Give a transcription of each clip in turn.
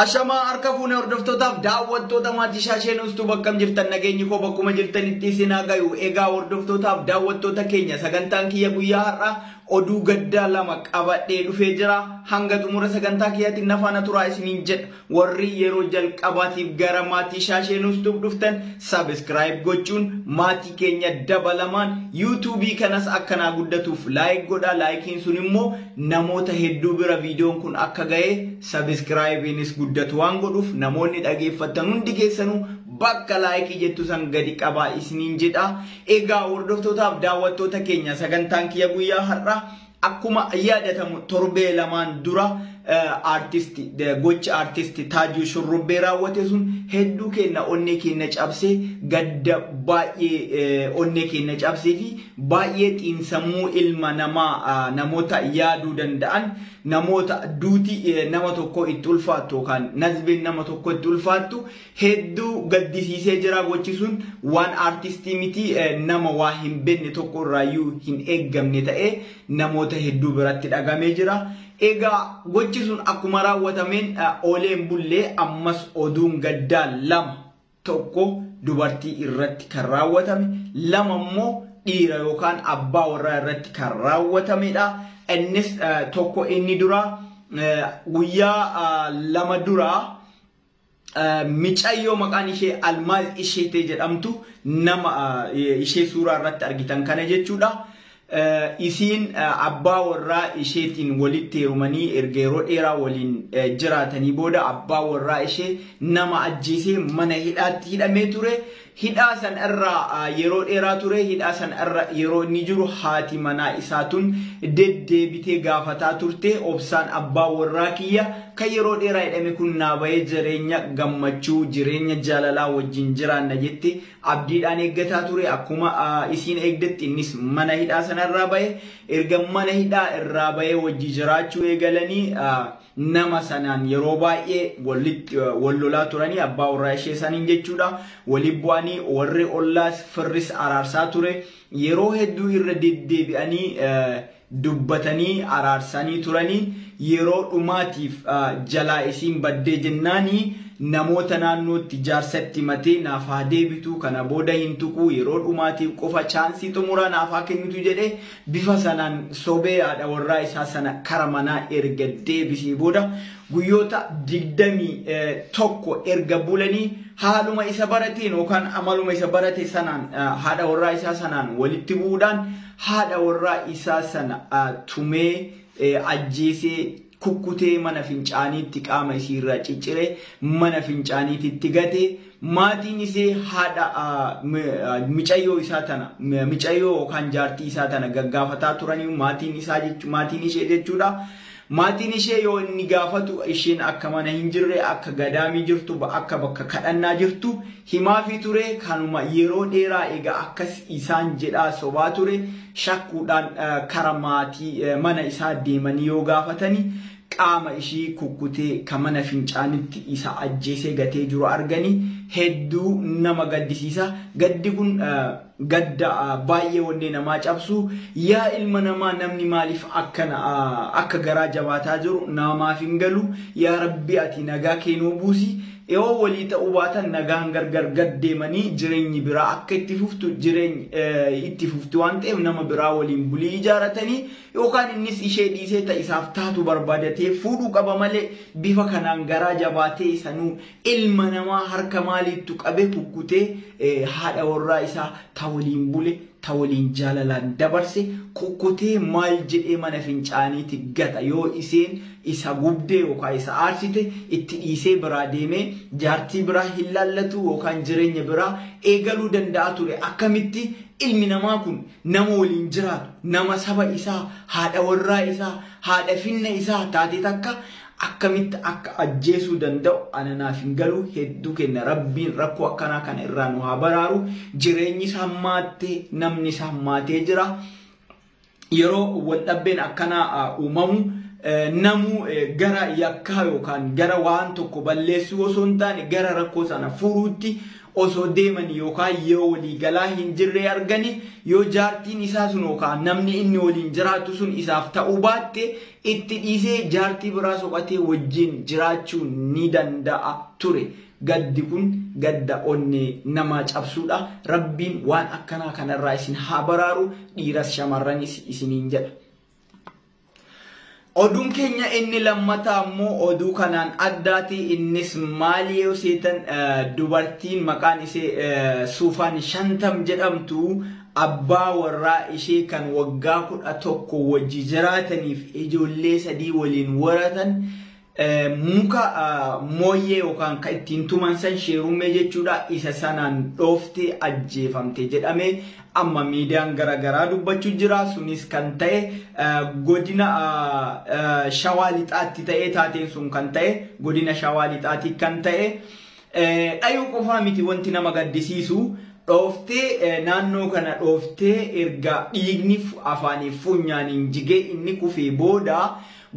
Ashamaa harka fuune hordoftootaaf daawwattoota maatii shaashee nuustuu bakkam jirtan nageenyi koo bakkuma jirtanitti isin haa gayu. Egaa hordoftootaaf daawwattoota keenya sagantaan kiyya guyyaa har'aa oduu gaddaa lama qabadhee dhufee jira. Hanga xumura sagantaa kiyyaatiin na faana turaa isiniin jedha. Warri yeroo jalqabaatiif gara maatii shaashee nuustuu dhuftan sabiskiraayib gochuun maatii keenya dabalamaan yuutuubii kanas akkanaa guddatuuf laayik godhaa. Laayikiin sun immoo Namoota hedduu bira viidiyoon kun akka ga'e sabiskiraayibiinis guddatu waan godhuuf namoonni dhageeffattan hundi keessanuu bakka laayikii jettu san gadi qabaa isiniin jedha. Egaa hordoftootaaf daawwattoota keenya sagantaan kiyya guyyaa har'a akkuma yaadatamu torbee lamaan dura artist gochi artist Taajuu Shurrubbee raawwate sun hedduu keenya onnee keenya cabsee gadda baay'ee onnee keenya cabsee fi Baay'ee xiinsammuu ilma namaa namoota yaaduu danda'an namoota duuti nama tokkoo itti ulfaattu yookaan nazbeen nama tokkoo itti ulfaattu hedduu gaddisiisee jira gochi sun waan aartistii miti nama waa hin beekne tokko irraayyuu hin eeggamne ta'ee namoota hedduu biratti dhagamee jira. Egaa gochi sun akkuma raawwatameen ooleen bullee ammas oduun gaddaa lama tokko dubartii irratti kan raawwatame, lama immoo dhiira yookaan abbaa warraa irratti kan raawwatamedha. Innis tokko inni duraa guyyaa lama duraa micayyoo maqaan ishee Almaaz Isheetee jedhamtu nama ishee suuraa irratti argitan kana jechuudha. Isiin abbaa warraa isheetiin walitti heerumanii erga yeroo dheeraa waliin jiraatanii booda abbaa warraa ishee nama ajjeesee mana hidhaatti hidhamee ture. Hidhaa san irra yeroo dheeraa ture. Hidhaa san irra yeroo inni jiru haati manaa isaa tun deddeebitee gaafataa turte. Obsaan abbaa warraa kiyya kan yeroo dheeraa hidhame kun naa bahee jireenya gammachuu, jireenya jaalalaa wajjin jiraanna jette Abdiidhaan eeggataa ture. Akkuma isiin eegdetti innis mana hidhaa sana irraa bahe. Erga mana hidhaa irraa bahee wajji jiraachuu eegalanii nama sanaan yeroo baay'ee wal lolaa turanii abbaa warraa ishee saniin jechuudha. Waliin bu'anii warri ollaas firris araarsaa ture. Yeroo hedduu irra deddeebi'anii dubbatanii araarsaanii turanii yeroo dhumaatiif jalaa isiin baddee jennaani namoota naannootti jaarsatti himatee naaf haa deebituu kana booda hin tuquu yeroo dhumaatiif qofa chaansii xumuraa naaf haa kennitu jedhee bifa sanaan sobee haadha warraa isaa sana kara manaa erga deebisee booda guyyoota 21 erga bulanii haaluma isa barateen yookaan amaluma isa barate sanaan haadha warraa isaa sanaan walitti bu'uudhaan haadha warraa isaa sana tumee ajjeesee kukkutee mana fincaaniitti qaama isii irraa ciccire mana fincaaniititti gate maatiin isee haadha micayyoo isaa tana micayyoo yookaan jaartii isaa tana gaggaafataa turanii maatiin isaa maatiin ishee jechuudha. Maatiin ishee yoo inni gaafatu isheen akka mana hin jirre, akka gadaamii jirtu, akka bakka kadhannaa jirtu himaafii ture. Kanuma yeroo dheeraa egaa akkas isaan jedhaa sobaa ture. Shakkuudhaan kara maatii mana isaa deemanii yoo gaafatani qaama ishii kukkutee ka mana fincaanitti isa ajjeesee gatee jiru argani. Hedduu nama gaddisiisa. Gaddi kun Gadda baay'ee onnee namaa cabsu yaa ilma namaa namni maaliif akkana akka garaa jabaataa jiru naamaaf hin galu yaa rabbi ati nagaa kee nuu buusi yoo walii ta'uu baatan nagaan gargar gad deemanii jireenyi biraa akka itti fuftu jireeny itti fufti waan ta'eef nama biraa waliin bulii ijaaratanii yookaan innis ishee dhiisee ta isaaf taatu barbaadatee fuudhuu qaba malee bifa kanaan garaa jabaatee sanuu Ilma namaa harka maaliittu qabe kukkutee haadha warraa isaa ta waliin bule, ta waliin jaalalaan dabarse kukkutee maal jedhee mana fincaaniiti gata yoo iseen isa gubde yookaan isa aarsite itti dhiisee biraa deemee jaartii biraa hin laallatuu yookaan jireenya biraa eegaluu danda'a ture akkamitti ilmi namaa kun nama waliin jiraatu nama saba isaa haadha warraa isaa haadha finna isaa taate takka akkamitti akka ajjeesuu danda'u ana naaf hin galuu hedduu kenna rabbiin rakkoo akkanaa kana irraa nu haa baraaru jireenyis hammaattee namnis hammaatee jira yeroo wal dhabbeen akkanaa uumamu namuu gara yakkaa yookaan gara waan tokko balleessuu osoo hin taane gara rakkoo sana furuutti osoo deemanii yookaan yoo walii galaa hin jirree arganii yoo jaartiin isaa sun yookaan namni inni waliin jiraatu sun isaaf ta'uu baatte Itti dhiisee jaartii biraa soqatee wajjin jiraachuu ni danda'a ture. Gaddi kun gadda onnee namaa cabsuudha. Rabbiin waan akkanaa kanarraa isin haa baraaru dhiiras shamarranis isiniin jedha. Oduun keenya inni lammataa immoo oduu kanaan addaati innis maali yoo seetan dubartiin maqaan isee suufaan shantam jedhamtu Abbaa warraa ishee kan waggaa 11 wajji jiraataniif ijoollee sadii waliin horatan muka mooyyee yookaan kan ittiin tuman san sheerummee jechuudha isa sanaan dhooftee ajjeefamte jedhamee amma miidiyaan gara garaa dubbachuu jira. Sunis kan ta'e godina Shawaa Lixaatti ta'ee taateen sun kan ta'e godina Shawaa Lixaatti kan ta'e Dhayuu qofaa miti wanti nama gaddisiisu dhooftee naannoo kana dhooftee erga dhiigni afaaniif funyaaniin jigee inni kufee booda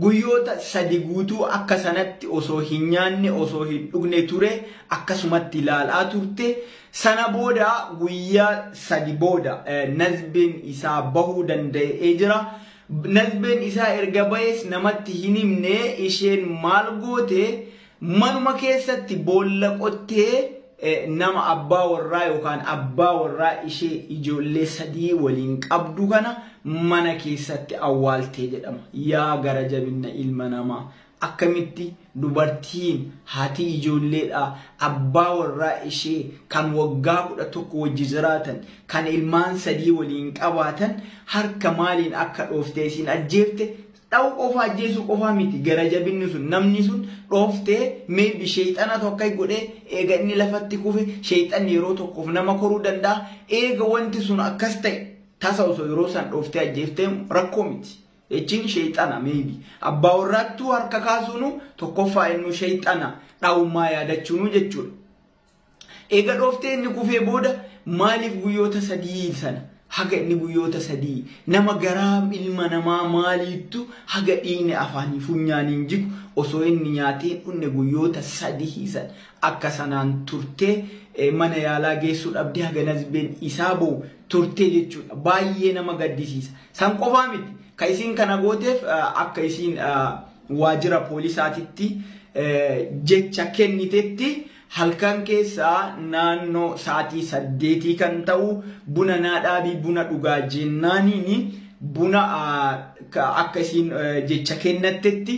guyyoota sadi guutuu akka sanatti osoo hin nyaanne osoo hin dhugne ture akkasumatti ilaalaa turte sana booda guyyaa sadi booda nazbeen isaa bahuu danda'ee jira. Nazbeen isaa erga bahees namatti hin himne isheen maal goote Manuma keessatti boolla qottee nama abbaa warraa yookaan abbaa warraa ishee ijoollee sadii waliin qabdu kana mana keessatti awwaaltee jedhama. Yaa gara jabinna ilma namaa! Akkamitti dubartiin haati ijoolleedhaa abbaa warraa ishee kan waggaa kudha tokko wajji jiraatan kan ilmaan sadii waliin qabaatan harka maaliin akka dhooftee isiin ajjeefte Dha'u qofa ajjeesuu qofaa miti gara jabinni sun namni sun dhooftee maybe sheeyxanatu akka godhee eega inni lafatti kufe sheeyxanni yeroo tokkoof nama koruu danda'a eega wanti sun akkas ta'e tasa osoo yeroo san dhooftee ajjeeftee rakkoo miti jechiin sheeyxana maybe abbaa warraattuu harka kaasuunu tokkoffaa innuu sheeyxana dha'ummaa yaadachuunuu jechuudha. Eega dhooftee inni kufee booda maaliif guyyoota sadii sana haga inni guyyoota sadii nama garaa ilma namaa maaliittu haga dhiigni afaanii funyaaniin jigu osoo inni nyaatee hin dhunne guyyoota sadihii san akka sanaan turtee mana yaalaa geessuu dhabdee haga nazbeen isaa ba'u turtee jechuudha baay'ee nama gaddisiisa san qofaa miti ka isiin kana gooteef akka isiin waajjira poolisaatitti jecha kennitetti halkan keessaa naannoo sa'aatii saddeetii kan ta'u buna naa dhaabii buna dhugaa jennaaniin buna akka isiin jecha kennattetti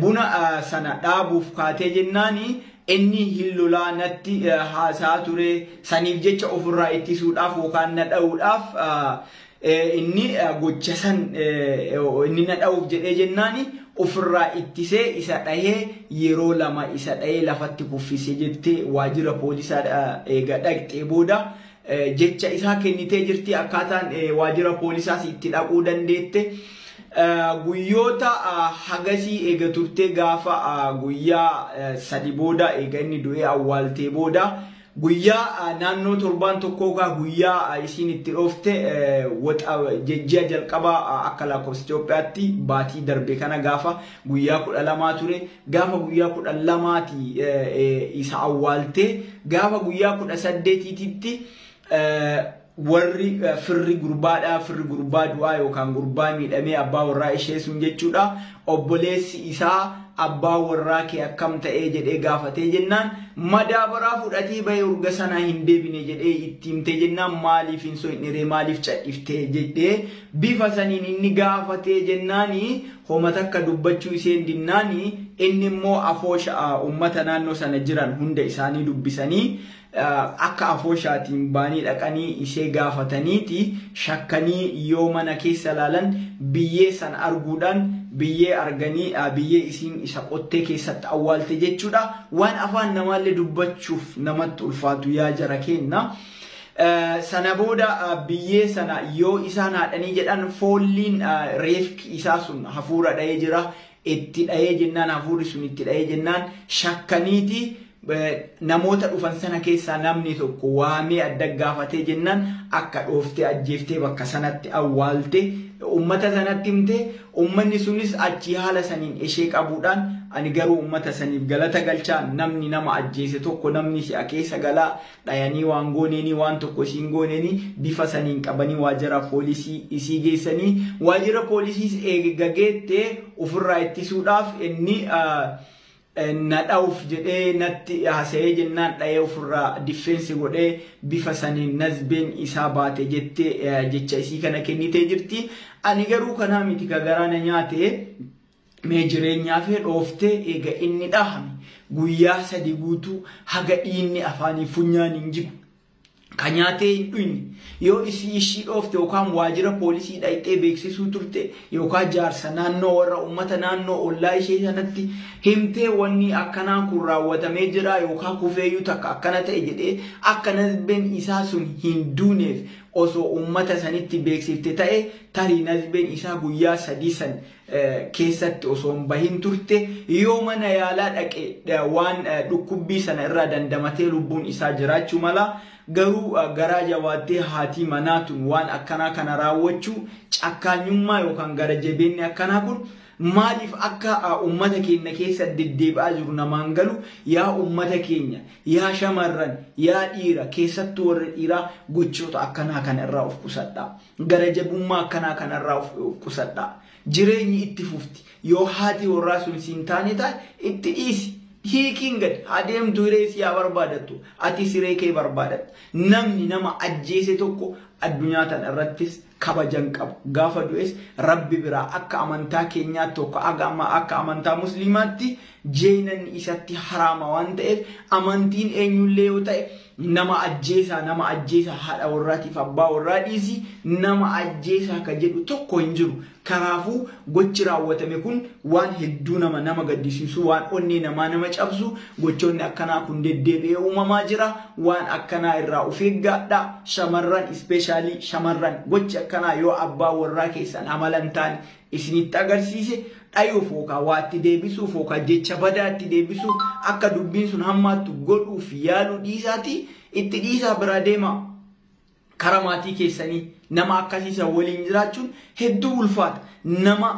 buna sana dhaabuuf kaatee jennaani inni hin lolaa natti haasaa ture saniif jecha ofirraa ittisuudhaaf yookaan na dha'uudhaaf Inni gocha san inni na dha'uuf jedhee jennaani ofirraa ittisee isa dhahee yeroo lama isa dhahee lafatti kuffise jettee waajjira poolisaa eega dhaqxee booda jecha isaa kennitee jirti akkaataan waajjira poolisaas itti dhaquu dandeette. Guyyoota hagasii eega turtee gaafa guyyaa sadi booda eega inni du'ee awwaaltee booda Guyyaa naannoo torbaan tokkoo kaa guyyaa isiin itti dhoofte waxa jejji'a jalqabaa akka lakkoofsa Itoophiyaatti baatii darbe kana gaafa guyyaa kudha lamaa ture gaafa guyyaa kudha lamaati isa awwaaltee gaafa guyyaa kudha saddeetiititti warri firri gurbaadhaa firri gurbaa du'aa yookaan gurbaa miidhamee abbaa warraa ishee sun jechuudha obboleessi isaa abbaa warraa kee akkam ta'ee jedhee gaafatee jennaan madaabaraa fudhatee bahee urga sanaa hin deebine jedhee itti himtee jennaan maaliif hin soyiniree maaliif cadhiftee jedhee bifa saniin inni gaafatee jennaani homa takka dubbachuu isheen dinnaani inni immoo afoosha uummata naannoo sana jiran hunda isaanii dubbisanii akka afooshaatiin baanii dhaqanii isee gaafataniiti shakkanii yoo mana keessa laalan biyyee san arguudhaan biyyee arganii biyyee isiin isa qottee keessatti awwaalte jechuudha waan afaan namaallee dubbachuuf namatti ulfaatu yaa jara keenna sana booda biyyee sana yoo isaan haadhanii jedhan foolliin reefki isaa sun hafuura dha'ee jira Itti dhayee jennaan hafuurri sun itti dhayee jennaan shakkaniiti namoota dhufan sana keessaa namni tokko waamee adda gaafatee jennaan akka dhooftee ajjeeftee bakka sanatti awwaalte ummata sanatti himte ummanni sunis achii haala saniin ishee qabuudhaan ani garuu ummata saniif galata galchaa namni nama ajjeese tokko namni si'a keessa galaa dhayanii waan gooneenii waan tokko isii hin gooneenii bifa saniin qabanii waajjira poolisii isii geessanii waajjira poolisiis eega geette ofirraa ittisuudhaaf inni na dha'uuf jedhee natti hasa'ee jennaan dha'ee ofirraa diffeensi godhee bifa saniin nazbeen isaa baate jettee jecha isii kana kennitee jirti. Ani garuu kanaa miti ka garaa na nyaate Mee jireenyaa kee dhooftee eega inni dhahame guyyaa sadi guutuu haga dhiinni afaanii funyaaniin jigu ka nyaatee hin dhuyne yoo isii ishii dhoofte yookaan waajira poolisii dhayxee beeksisuu turte yookaan jaarsa naannoo warra uummata naannoo ollaa ishee sanatti himtee wanni akkanaa kun raawwatamee jira yookaan kufeeyyuu takka akkana ta'e jedhee akka nazbeen isaa sun hin duuneef osoo uummata sanitti beeksifte ta'e tarii nazbeen isaa guyyaa sadii san keessatti osoo hin bahin turte yoo mana yaalaa dhaqe waan dhukkubbii sana irraa dandamatee lubbuun isaa jiraachuu mala garuu garaa jabaattee haatii manaa tun waan akkanaa kana raawwachuu cakkaanyummaa yookaan gara jabeenni akkanaa kun maaliif akka ummata keenya keessa deddeebi'aa jiru namaan galu yaa ummata keenya yaa shamarran yaa dhiira keessattuu warra dhiiraa gochoota akkanaa kana irraa of qusadhaa. Gara jabummaa akkanaa kanarraa of qusadhaa. Jireenyi itti fufti. Yoo haati warraa sun siin taane taate itti dhiisi. Hiikiin gad haa deemtu hiree isii haa barbaadattu. Atis hiree kee barbaadadhu. Namni nama ajjeese tokko addunyaa tana irrattis kabaja hin qabu. Gaafa du'es Rabbi biraa akka amantaa keenyaatti tokko haga amma akka amantaa musliimaatti jeenanni isatti haraama waan ta'eef amantiin eenyullee yoo ta'e Nama ajjeesaa nama ajjeesaa haadha warraatiif abbaa warraa dhiisii nama ajjeesaa ka jedhu tokko hin jiru. Kanaafuu gochi raawwatame kun waan hedduu nama nama gaddisiisu waan onnee namaa nama cabsu gochoonni akkanaa kun deddeebi'ee uumamaa jira waan akkanaa irraa of eeggaadha shamarran ispeeshaalii shamarran gochi akkanaa yoo abbaa warraa keessan amala hin taane isinitti agarsiise dhayuuf yookaan waa itti deebisuuf yookaan jecha badaa itti deebisuuf akka dubbiin sun hammaattu godhuuf yaaluu dhiisaatii itti dhiisaa biraa deemaa. Kara maatii keessanii nama akkasii san waliin jiraachuun hedduu ulfaata. Nama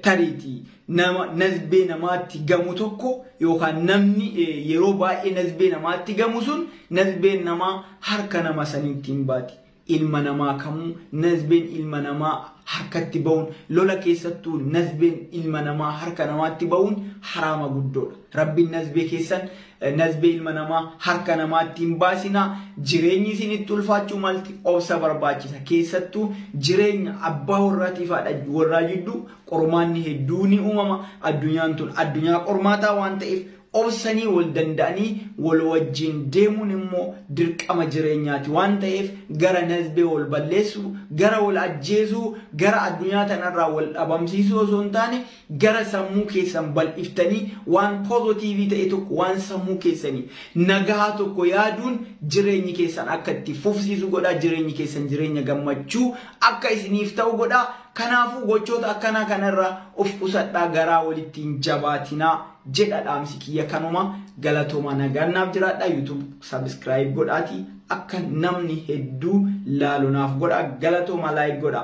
tariitii nama nazbee namaatti gamu tokko yookaan namni yeroo baay'ee nazbee namaatti gamu sun nazbeen namaa harka nama saniitti hin baati. ilma namaa kamuu nazbeen ilma namaa harkatti ba'uun lola keessattuu nazbeen ilma namaa harka namaatti ba'uun haraama guddoodha. Rabbiin nazbee keessan nazbee ilma namaa harka namaatti hin baasinaa jireenyi isinitti ulfaachuu malti obsa barbaachisa. Keessattuu jireenya abbaa warraatiif haadha warraa jidduu qormaanni hedduu ni uumama. Addunyaan tun addunyaa qormaataa waan ta'eef Obsanii wal danda'anii wal wajjiin deemuun immoo dirqama jireenyaati waan ta'eef gara nasbee wal balleessuu, gara wal ajjeesuu, gara addunyaa tana irraa wal dhabamsiisuu osoo hin taane gara sammuu keessan bal'iftanii waan pozotiivii ta'e tokko waan sammuu keessanii nagahaa tokko yaaduun jireenyi keessan akka itti fufsiisu godhaa jireenyi keessan jireenya gammachuu akka isiniif ta'u godhaa kanaafuu gochoota akkanaa kana irraa of qusadhaa garaa walitti hin jabaatinaa jedha dhaamsi kiyya kanuma galatooma nagaan naaf jiraadha youtube subscribe godhaati akka namni hedduu laalu naaf godha galatooma like godha.